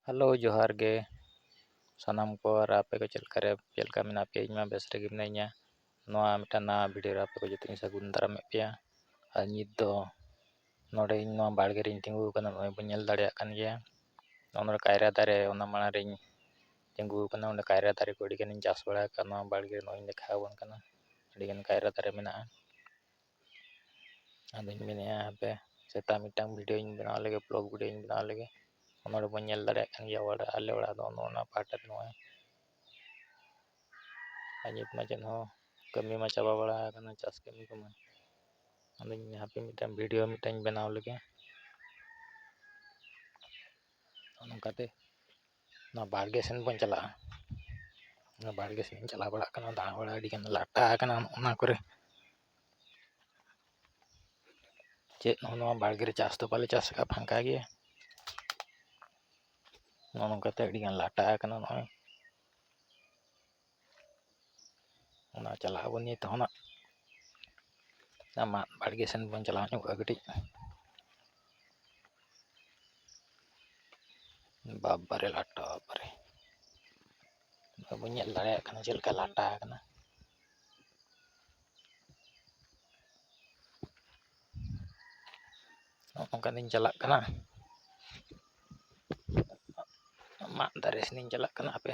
hello ᱡᱚᱦᱟᱨ ᱜᱮ ᱥᱟᱱᱟᱢ ᱠᱚ ᱟᱨ ᱟᱯᱮ ᱠᱚ ᱪᱮᱫ ᱞᱮᱠᱟ ᱨᱮ ᱪᱮᱫ ᱞᱮᱠᱟ ᱢᱮᱱᱟᱜ ᱯᱮᱭᱟ ᱤᱧᱢᱟ ᱵᱮᱥ ᱨᱮᱜᱮ ᱢᱤᱱᱟᱹᱧᱟ ᱱᱚᱣᱟ ᱢᱤᱫᱴᱟᱱ ᱱᱟᱣᱟ ᱵᱷᱤᱰᱭᱳ ᱨᱮ ᱟᱯᱮ ᱠᱚ ᱡᱚᱛᱚᱧ ᱥᱟᱹᱜᱩᱱ ᱫᱟᱨᱟᱢᱮᱫ ᱯᱮᱭᱟ ᱟᱨ ᱱᱤᱛ ᱫᱚ ᱱᱚᱰᱮ ᱤᱧ ᱱᱚᱣᱟ ᱵᱟᱲᱜᱮ ᱨᱮᱧ ᱛᱤᱸᱜᱩ ᱟᱠᱟᱱᱟ ᱱᱚᱜᱼᱚᱭ ᱵᱚᱱ ᱧᱮᱞ ᱫᱟᱲᱮᱭᱟᱜ ᱠᱟᱱ ᱜᱮᱭᱟ ᱱᱚᱜᱼᱚ ᱱᱚᱰᱮ ᱠᱟᱭᱨᱟ ᱫᱟᱨᱮ ᱚᱱᱟ ᱢᱟᱲᱟᱝ ᱨᱮᱧ ᱛᱤᱸᱜᱩ ᱟᱠᱟᱱᱟ ᱚᱸᱰᱮ ᱠᱟᱭᱨᱟ ᱫᱟᱨᱮ ᱠᱚ ᱟᱹᱰᱤ ᱜᱟᱱᱤᱧ ᱪᱟᱥ ᱵᱟᱲᱟ ᱟᱠᱟᱫᱼᱟ ᱱᱚᱣᱟ ᱵᱟᱲᱜᱮ ᱨᱮ ᱱᱚᱜᱼᱚᱭ ᱤᱧ ᱫᱮᱠᱷᱟᱣ ᱟᱵᱚᱱ ᱠᱟᱱᱟ ᱟᱹᱰᱤ ᱜᱟᱱ ᱠᱟᱭᱨᱟ ᱫᱟᱨᱮ ᱢᱮᱱᱟᱜᱼᱟ ᱟᱫᱚᱧ ᱢᱮᱱᱮᱫᱼᱟ ᱦᱟᱯᱮ ᱥᱮᱛᱟᱜ ᱢᱤᱫᱴᱟᱝ ᱵᱷᱤᱰᱭᱳᱧ ᱵᱮᱱᱟᱣ ᱞᱮᱜᱮ ᱵᱞᱚᱜᱽ ᱵᱷᱤᱰᱭᱳᱧ ᱵᱮᱱᱟᱣ ᱞᱮᱜᱮ ᱚᱱᱟ ᱨᱮ ᱵᱚᱱ ᱧᱮᱞ ᱫᱟᱲᱮᱭᱟᱜ ᱠᱟᱱ ᱜᱮᱭᱟ ᱚᱲᱟᱜ ᱟᱞᱮ ᱚᱲᱟᱜ ᱫᱚ ᱱᱚᱜᱼᱚ ᱱᱚᱣᱟ ᱯᱟᱦᱴᱟ ᱫᱚ ᱱᱚᱜᱼᱚᱭ ᱟᱨ ᱱᱤᱛ ᱢᱟ ᱪᱮᱫ ᱦᱚᱸ ᱠᱟᱹᱢᱤ ᱢᱟ ᱪᱟᱵᱟ ᱵᱟᱲᱟ ᱟᱠᱟᱱᱟ ᱪᱟᱥ ᱠᱟᱹᱢᱤ ᱠᱚᱢᱟ ᱟᱫᱚᱧ ᱦᱟᱯᱮ ᱢᱤᱫᱴᱟᱝ ᱵᱷᱤᱰᱭᱳ ᱢᱤᱫᱴᱟᱝ ᱵᱮᱱᱟᱣ ᱞᱮᱜᱮ ᱱᱚᱝᱠᱟᱛᱮ ᱚᱱᱟ ᱵᱟᱲᱜᱮ ᱥᱮᱱ ᱵᱚᱱ ᱪᱟᱞᱟᱜᱼᱟ ᱚᱱᱟ ᱵᱟᱲᱜᱮ ᱥᱮᱱ ᱤᱧ ᱪᱟᱞᱟᱣ ᱵᱟᱲᱟᱜ ᱠᱟᱱᱟ ᱫᱟᱬᱟ ᱵᱟᱲᱟ ᱟᱹᱰᱤᱜᱟᱱ ᱞᱟᱴᱟ ᱟᱠᱟᱱᱟ ᱚᱱᱟ ᱠᱚᱨᱮ ᱪᱮᱫ ᱦᱚᱸ ᱱᱚᱣᱟ ᱵᱟᱲᱜᱮ ᱨᱮ ᱪᱟᱥ ᱫᱚ ᱵᱟᱞᱮ ᱪᱟᱥ ᱟᱠᱟᱫᱼᱟ ᱯᱷᱟᱸᱠᱟ ᱜᱮᱭᱟ ᱱᱚᱜᱼᱚ ᱱᱚᱝᱠᱟᱛᱮ ᱟᱹᱰᱤᱜᱟᱱ ᱞᱟᱴᱟ ᱟᱠᱟᱱᱟ ᱱᱚᱜᱼᱚᱭ ᱚᱱᱟ ᱪᱟᱞᱟᱜ ᱟᱵᱚᱱ ᱱᱤᱛ ᱦᱚᱸ ᱱᱟᱜ ᱟᱢᱟᱜ ᱵᱟᱲᱜᱮ ᱥᱮᱱ ᱵᱚᱱ ᱪᱟᱞᱟᱣ ᱧᱚᱜᱚᱜᱼᱟ ᱠᱟᱹᱴᱤᱡ ᱵᱟᱵᱟᱨᱮ ᱞᱟᱴᱟ ᱵᱟᱵᱟᱨᱮ ᱵᱟᱵᱚᱱ ᱧᱮᱞ ᱫᱟᱲᱮᱭᱟᱜ ᱠᱟᱱᱟ ᱪᱮᱫ ᱞᱮᱠᱟ ᱞᱟᱴᱟ ᱟᱠᱟᱱᱟ ᱱᱚᱝᱠᱟ ᱫᱚᱧ ᱪᱟᱞᱟᱜ ᱠᱟᱱᱟ ᱢᱟᱫ ᱫᱟᱨᱮ ᱥᱮᱱᱤᱧ ᱪᱟᱞᱟᱜ ᱠᱟᱱᱟ ᱦᱟᱯᱮ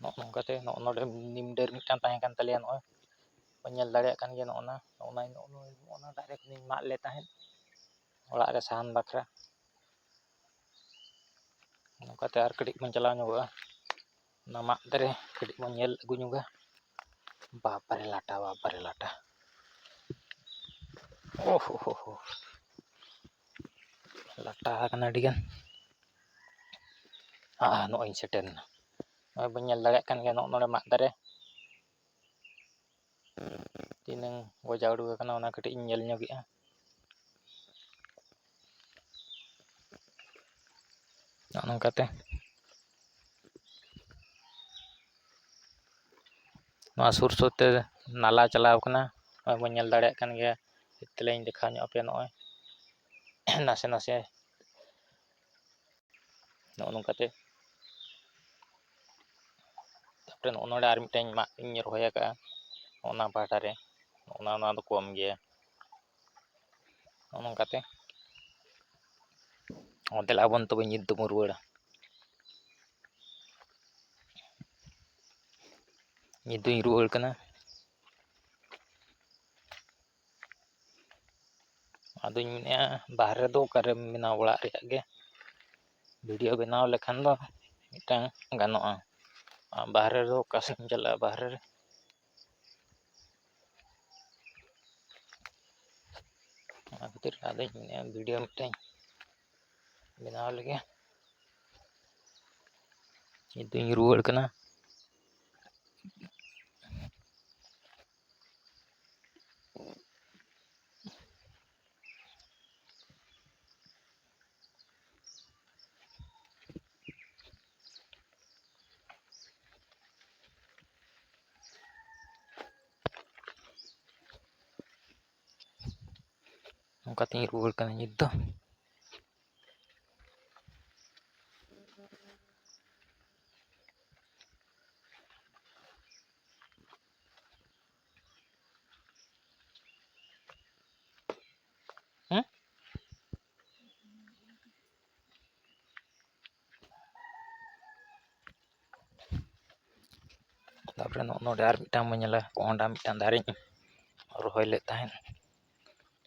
ᱱᱚᱜᱼᱚ ᱱᱚᱝᱠᱟᱛᱮ ᱱᱚᱜᱼᱚ ᱱᱚᱰᱮ ᱱᱤᱢ ᱰᱟᱹᱨ ᱢᱤᱫᱴᱟᱝ ᱛᱟᱦᱮᱸ ᱠᱟᱱ ᱛᱟᱞᱮᱭᱟ ᱱᱚᱜᱼᱚᱭ ᱵᱚᱱ ᱧᱮᱞ ᱫᱟᱲᱮᱭᱟᱜ ᱠᱟᱱ ᱜᱮᱭᱟ ᱱᱚᱜᱼᱚ ᱱᱟ ᱱᱚᱜᱼᱚ ᱱᱟ ᱱᱚᱜᱼᱚ ᱱᱟ ᱫᱟᱨᱮ ᱠᱚᱞᱤᱧ ᱢᱟᱜ ᱞᱮᱫ ᱛᱟᱦᱮᱸᱫ ᱚᱲᱟᱜ ᱨᱮ ᱥᱟᱦᱟᱱ ᱵᱟᱠᱷᱨᱟ ᱱᱚᱝᱠᱟᱛᱮ ᱟᱨ ᱠᱟᱹᱴᱤᱡ ᱵᱚᱱ ᱪᱟᱞᱟᱣ ᱧᱚᱜᱚᱜᱼᱟ ᱚᱱᱟ ᱢᱟᱫ ᱫᱟᱨᱮ ᱠᱟᱹᱴᱤᱡ ᱵᱚᱱ ᱧᱮᱞ ᱟᱹᱜᱩ ᱧᱚᱜᱟ ᱵᱟᱯᱨᱮ ᱞᱟᱴᱟ ᱵᱟᱯᱨᱮ ᱞᱟᱴᱟ ᱳ ᱦᱳ ᱦᱳ ᱦᱳ ᱞᱟᱴᱟ ᱟᱠᱟᱱᱟ ᱟᱹᱰᱤᱜᱟᱱ ᱟᱨ ᱱᱚᱜᱼᱚᱭ ᱤᱧ ᱥᱮᱴᱮᱨ ᱮᱱᱟ ᱱᱚᱜᱼᱚᱭ ᱵᱚᱱ ᱧᱮᱞ ᱫᱟᱲᱮᱭᱟᱜ ᱠᱟᱱ ᱜᱮᱭᱟ ᱱᱚᱜᱼᱚ ᱱᱚᱰᱮ ᱢᱟᱫ ᱫᱟᱨᱮ ᱛᱤᱱᱟᱹᱝ ᱜᱚᱡᱟᱣ ᱩᱰᱩᱠ ᱟᱠᱟᱱᱟ ᱚᱱᱟ ᱠᱟᱹᱴᱤᱡ ᱤᱧ ᱧᱮᱞ ᱧᱚᱜᱮᱜᱼᱟ ᱱᱚᱜᱼᱚ ᱱᱚᱝᱠᱟᱛᱮ ᱱᱚᱣᱟ ᱥᱩᱨ ᱥᱩᱨᱛᱮ ᱱᱟᱞᱟ ᱪᱟᱞᱟᱣ ᱠᱟᱱᱟ ᱱᱚᱜᱼᱚᱭ ᱵᱚᱱ ᱧᱮᱞ ᱫᱟᱲᱮᱭᱟᱜ ᱠᱟᱱ ᱜᱮᱭᱟ ᱛᱮᱞᱤᱧ ᱫᱮᱠᱷᱟᱣ ᱧᱚᱜ ᱟᱯᱮᱭᱟ ᱱᱚᱜᱼᱚᱭ ᱱᱟᱥᱮ ᱱᱟᱥᱮ ᱱᱚᱜᱼᱚ ᱱᱚᱝᱠᱟᱛᱮ ᱛᱟᱯᱚᱨᱮ ᱱᱚᱜᱼᱚ ᱱᱚᱰᱮ ᱟᱨ ᱢᱤᱫᱴᱟᱝ ᱢᱟᱫ ᱤᱧ ᱨᱚᱦᱚᱭ ᱟᱠᱟᱫᱼᱟ ᱚᱱᱟ ᱯᱟᱦᱴᱟ ᱨᱮ ᱚᱱᱟ ᱚᱱᱟ ᱫᱚ ᱠᱚᱢ ᱜᱮᱭᱟ ᱱᱚᱜᱼᱚ ᱱᱚᱝᱠᱟᱛᱮ ᱚᱱᱛᱮ ᱞᱟᱵᱚᱱ ᱛᱚᱵᱮ ᱧᱤᱛ ᱫᱚᱵᱚᱱ ᱨᱩᱣᱟᱹᱲᱟ ᱧᱤᱛ ᱫᱚᱧ ᱨᱩᱣᱟᱹᱲ ᱠᱟᱱᱟ ᱟᱫᱚᱧ ᱢᱮᱱᱮᱫᱼᱟ ᱵᱟᱦᱨᱮ ᱫᱚ ᱚᱠᱟᱨᱮᱢ ᱵᱮᱱᱟᱣ ᱚᱲᱟᱜ ᱨᱮᱭᱟᱜ ᱜᱮ ᱵᱷᱤᱰᱭᱳ ᱵᱮᱱᱟᱣ ᱞᱮᱠᱷᱟᱱ ᱫᱚ ᱢᱤᱫᱴᱟᱝ ᱜᱟᱱᱚᱜᱼᱟ ᱟᱨ ᱵᱟᱦᱨᱮ ᱫᱚ ᱚᱠᱟ ᱥᱮᱫ ᱮᱢ ᱪᱟᱞᱟᱜᱼᱟ ᱵᱟᱦᱨᱮ ᱨᱮ ᱚᱱᱟ ᱠᱷᱟᱹᱛᱤᱨ ᱟᱫᱚᱧ ᱢᱮᱱᱮᱫᱼᱟ ᱵᱷᱤᱰᱭᱳ ᱢᱤᱫᱴᱟᱝ ᱵᱮᱱᱟᱣ ᱞᱮᱜᱮ ᱱᱤᱛᱚᱜ ᱤᱧ ᱨᱩᱣᱟᱹᱲ ᱠᱟᱱᱟ ᱚᱱᱠᱟᱛᱮᱧ ᱨᱩᱣᱟᱹᱲ ᱠᱟᱱᱟ ᱱᱤᱛ ᱫᱚ ᱛᱟᱨᱯᱚᱨᱮ ᱱᱚᱜᱼᱚ ᱱᱚᱰᱮ ᱟᱨ ᱢᱤᱫᱴᱟᱝ ᱵᱚᱱ ᱧᱮᱞᱟ ᱠᱚᱸᱦᱰᱟ ᱢᱤᱫᱴᱟᱝ ᱫᱟᱨᱮᱧ ᱨᱚᱦᱚᱭ ᱞᱮᱫ ᱛᱟᱦᱮᱸᱫ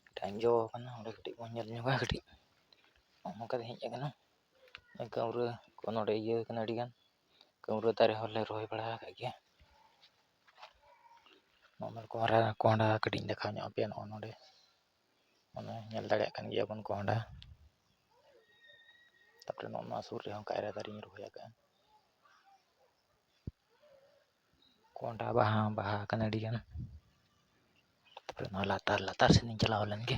ᱢᱤᱫᱴᱟᱝ ᱡᱚ ᱠᱟᱱᱟ ᱚᱸᱰᱮ ᱠᱟᱹᱴᱤᱡ ᱵᱚᱱ ᱧᱮᱞ ᱧᱚᱜᱟ ᱠᱟᱹᱴᱤᱡ ᱱᱚᱜᱼᱚ ᱱᱚᱝᱠᱟ ᱛᱮ ᱦᱮᱡ ᱠᱟᱱᱟ ᱠᱟᱹᱣᱨᱟᱹ ᱠᱚ ᱱᱚᱰᱮ ᱤᱭᱟᱹ ᱠᱟᱱᱟ ᱟᱹᱰᱤᱜᱟᱱ ᱠᱟᱹᱣᱨᱟᱹ ᱫᱟᱨᱮ ᱦᱚᱸᱞᱮ ᱨᱚᱦᱚᱭ ᱵᱟᱲᱟ ᱟᱠᱟᱫ ᱜᱮᱭᱟ ᱱᱚᱜᱼᱚᱭ ᱠᱚᱸᱦᱰᱟ ᱠᱚᱸᱦᱰᱟ ᱠᱟᱹᱴᱤᱡ ᱤᱧ ᱫᱮᱠᱷᱟᱣ ᱧᱚᱜ ᱟᱯᱮᱭᱟ ᱱᱚᱜᱼᱚᱭ ᱱᱚᱰᱮ ᱚᱱᱮ ᱧᱮᱞ ᱫᱟᱲᱮᱭᱟᱜ ᱠᱟᱱ ᱜᱮᱭᱟᱵᱚᱱ ᱠᱚᱸᱦᱰᱟ ᱛᱟᱨᱯᱚᱨᱮ ᱱᱚᱜᱼᱚ ᱱᱚᱣᱟ ᱥᱩᱨ ᱨᱮᱦᱚᱸ ᱠᱟᱭᱨᱟ ᱫᱟᱨᱮᱧ ᱨᱚᱦᱚᱭ ᱟᱠᱟᱫᱼᱟ ᱠᱚᱸᱦᱰᱟ ᱵᱟᱦᱟ ᱦᱚᱸ ᱵᱟᱦᱟ ᱟᱠᱟᱱᱟ ᱟᱹᱰᱤᱜᱟᱱ ᱛᱟᱨᱯᱚᱨᱮ ᱱᱚᱣᱟ ᱞᱟᱛᱟᱨ ᱞᱟᱛᱟᱨ ᱥᱮᱱᱤᱧ ᱪᱟᱞᱟᱣ ᱞᱮᱱᱜᱮ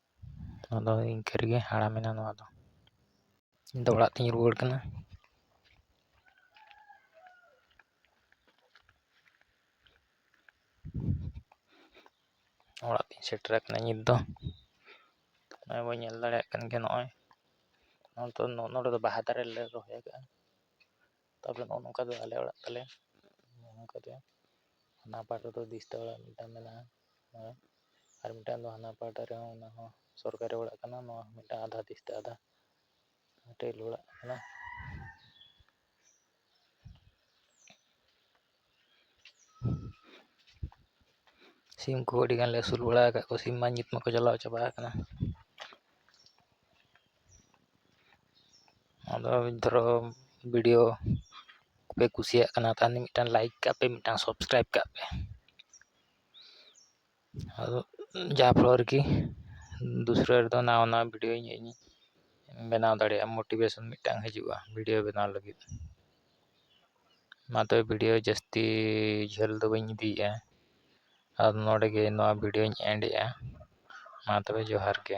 ᱟᱫᱚ ᱤᱱᱠᱟᱹ ᱨᱮᱜᱮ ᱦᱟᱲᱟᱢᱮᱱᱟ ᱱᱚᱣᱟ ᱫᱚ ᱤᱧ ᱫᱚ ᱚᱲᱟᱜ ᱛᱤᱧ ᱨᱩᱣᱟᱹᱲ ᱠᱟᱱᱟ ᱚᱲᱟᱜ ᱛᱤᱧ ᱥᱮᱴᱮᱨ ᱟᱠᱟᱱᱟ ᱱᱤᱛ ᱫᱚ ᱱᱚᱜᱼᱚᱭ ᱵᱚᱱ ᱧᱮᱞ ᱫᱟᱲᱮᱭᱟᱜ ᱠᱟᱱ ᱜᱮᱭᱟ ᱱᱚᱜᱼᱚᱭ ᱱᱚᱸᱰᱮ ᱫᱚ ᱵᱟᱦᱟ ᱫᱟᱨᱮ ᱞᱮ ᱨᱚᱦᱚᱭ ᱟᱠᱟᱫᱼᱟ ᱛᱟᱯᱚᱨᱮ ᱱᱚᱜᱼᱚ ᱱᱚᱝᱠᱟ ᱫᱚ ᱟᱞᱮ ᱚᱲᱟᱜ ᱛᱟᱞᱮ ᱱᱚᱜᱼᱚ ᱱᱚᱝᱠᱟ ᱜᱮ ᱦᱟᱱᱟ ᱯᱟᱴ ᱨᱮᱫᱚ ᱫᱤᱥᱛᱟ ᱚᱲᱟᱜ ᱢᱤᱫᱴᱟᱝ ᱢᱮᱱᱟᱜᱼᱟ ᱦᱮᱸ ᱟᱨ ᱢᱤᱫᱴᱟᱝ ᱫᱚ ᱦᱟᱱᱟ ᱯᱟᱦᱴᱟ ᱨᱮᱦᱚᱸ ᱚᱱᱟ ᱦᱚᱸ ᱥᱚᱨᱠᱟᱨᱤ ᱚᱲᱟᱜ ᱠᱟᱱᱟ ᱱᱚᱣᱟ ᱦᱚᱸ ᱢᱤᱫᱴᱟᱝ ᱟᱫᱷᱟ ᱫᱤᱥᱛᱟ ᱟᱫᱷᱟ ᱴᱟᱹᱭᱞᱤ ᱚᱲᱟᱜ ᱠᱟᱱᱟ ᱥᱤᱢ ᱠᱚ ᱟᱹᱰᱤ ᱜᱟᱱᱞᱮ ᱟᱹᱥᱩᱞ ᱵᱟᱲᱟ ᱟᱠᱟᱫ ᱠᱚᱣᱟ ᱥᱤᱢ ᱢᱟ ᱧᱩᱛ ᱢᱟᱠᱚ ᱪᱟᱞᱟᱣ ᱪᱟᱵᱟ ᱟᱠᱟᱱᱟ ᱟᱫᱚ ᱫᱷᱚᱨᱚ ᱵᱷᱤᱰᱤᱭᱳ ᱯᱮ ᱠᱩᱥᱤᱭᱟᱜ ᱠᱟᱱᱟ ᱛᱟᱦᱚᱞᱮ ᱢᱤᱫᱴᱟᱱ ᱞᱟᱭᱤᱠ ᱠᱟᱜ ᱯᱮ ᱢᱤᱫᱴᱟᱱ ᱥᱟᱵᱥᱠᱨᱟᱭᱤᱵᱽ ᱠᱟᱜ ᱯᱮ ᱟᱫᱚ ᱡᱟ ᱯᱷᱚᱞᱚ ᱨᱮᱠᱤ ᱫᱩᱥᱨᱟᱹ ᱨᱮᱫᱚ ᱱᱟᱣᱟ ᱱᱟᱣᱟ ᱵᱷᱤᱰᱭᱳ ᱤᱧ ᱵᱮᱱᱟᱣ ᱫᱟᱲᱮᱭᱟᱜᱼᱟ ᱢᱳᱴᱤᱵᱷᱮᱥᱚᱱ ᱢᱤᱫᱴᱟᱝ ᱦᱤᱡᱩᱜᱼᱟ ᱵᱷᱤᱰᱭᱳ ᱵᱮᱱᱟᱣ ᱞᱟᱹᱜᱤᱫ ᱢᱟ ᱛᱚᱵᱮ ᱵᱷᱤᱰᱭᱳ ᱡᱟᱹᱥᱛᱤ ᱡᱷᱟᱹᱞ ᱫᱚ ᱵᱟᱹᱧ ᱤᱫᱤᱭᱮᱫᱼᱟ ᱟᱨ ᱱᱚᱰᱮ ᱜᱮ ᱱᱚᱣᱟ ᱵᱷᱤᱰᱭᱳᱧ ᱮᱱᱰ ᱮᱫᱼᱟ ᱢᱟ ᱛᱚᱵᱮ ᱡᱚᱦᱟᱨ ᱜᱮ